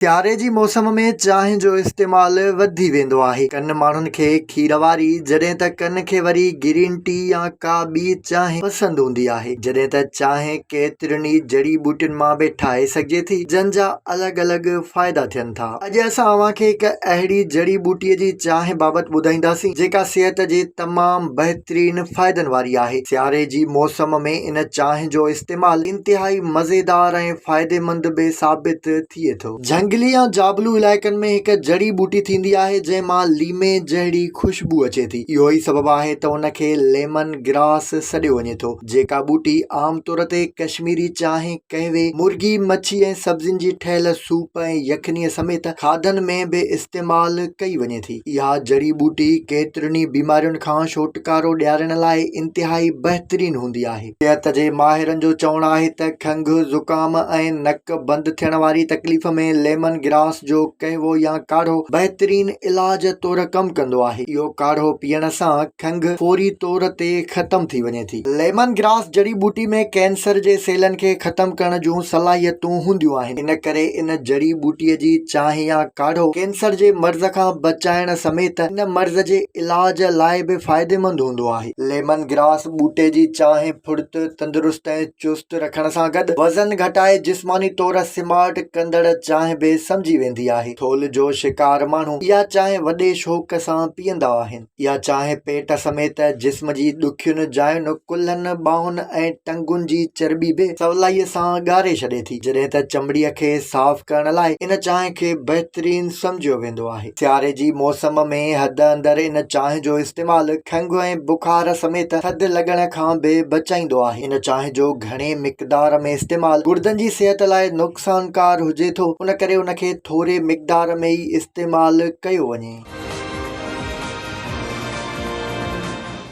سياري جي موسم ۾ چانهه جو استعمال وڌي ويندو آهي. ڪن ماڻهن کي کير واري جڏهن ته ڪن کي وري گرين ٽي يا ڪا ٻي چانهه پسند هوندي آهي. جڏهن ته چانهه ڪيترين ئي جڙي ٻوٽين مان به ٺاهي سگهجي ٿي جن جا الڳ الڳ فائدا ٿين ٿا. اڄ اسان اوهان کي هڪ اهڙي جڙي ٻوٽي جي چانهه بابت ٻڌائينداسين جيڪا صحت جي تمام بهترين فائدن واري آهي. سياري جي موسم ۾ ان چانهه جو استعمال انتهائي مزيدار ۽ فائديمند به ثابت ٿئي ٿو. جهنگلي يا جابلو علائقن ۾ هڪ جڙي ٻوٽي ٿيندي آهي جنهن مان ليمي جهڙي خوشبو اچي ٿي. اهو ئي سبب آهي ته ان کي ليمن گراس سڏيو وڃي ٿو. جيڪا ٻوٽي عام طور تي ڪشميري چانهه، قهوي، مرغي، مڇي ۽ سبزين جي ٺهيل سوپ ۽ يخني سميت کاڌن ۾ به استعمال ڪئي وڃي ٿي. اها جڙي ٻوٽي ڪيترين ئي بيمارين کان ڇوٽڪارو ڏيارڻ لاء انتهائي بهترين هوندي آهي. صحت جي ماهرن جو چوڻ آهي ته کنگهه، زڪام ۽ نڪ بند ٿيڻ واري تڪليف ۾ ليمن گراس جو قهوو يا ڪاڙهو بهترين علاج طور ڪم ڪندو آهي. اهو ڪاڙهو پيئڻ سان کنگهه فوري طور تي ختم ٿي وڃي ٿي. ليمن گراس جڙي ٻوٽي ۾ ڪينسر جي سيلن کي ختم ڪرڻ جون صلاحيتون هونديون آهن، ان ڪري ان جڙي ٻوٽي جي چانهه يا ڪاڙهو ڪينسر جي مرض کان بچائڻ سميت ان مرض جي علاج لاء به فائديمند هوندو آهي. ليمن گراس ٻوٽي جي چانهه ڦڙت، تندرست ۽ چست رکڻ سان گڏ وزن گهٽائي جسماني طور سمارٽ ڪندڙ چانهه به سمجهي ويندي آهي. ٿولهه جو شڪار ماڻهو اها چانهه وڏي شوق سان پيئندا آهن. اها چانهه پيٽ سميت جسم جي ڏکين جاين، ڪلهن، ٻانهن ۽ ٽنگن جي چرٻي به سولائي سان ڳاري ڇڏي ٿي، جڏهن ته چمڙي کي صاف ڪرڻ لاء ان چانهه کي بهترين سمجهيو ويندو آهي. سياري جي موسم ۾ حد اندر ان چانهه جو استعمال کنگهه ۽ بخار سميت ٿڌ لڳڻ کان به بچائيندو آهي. ان چانهه جو گهڻي مقدار ۾ استعمال گڙدن جي صحت لاء نقصانڪار هجي ٿو، ان ڪري ان کي ٿوري مقدار ۾ ئي استعمال ڪيو وڃي.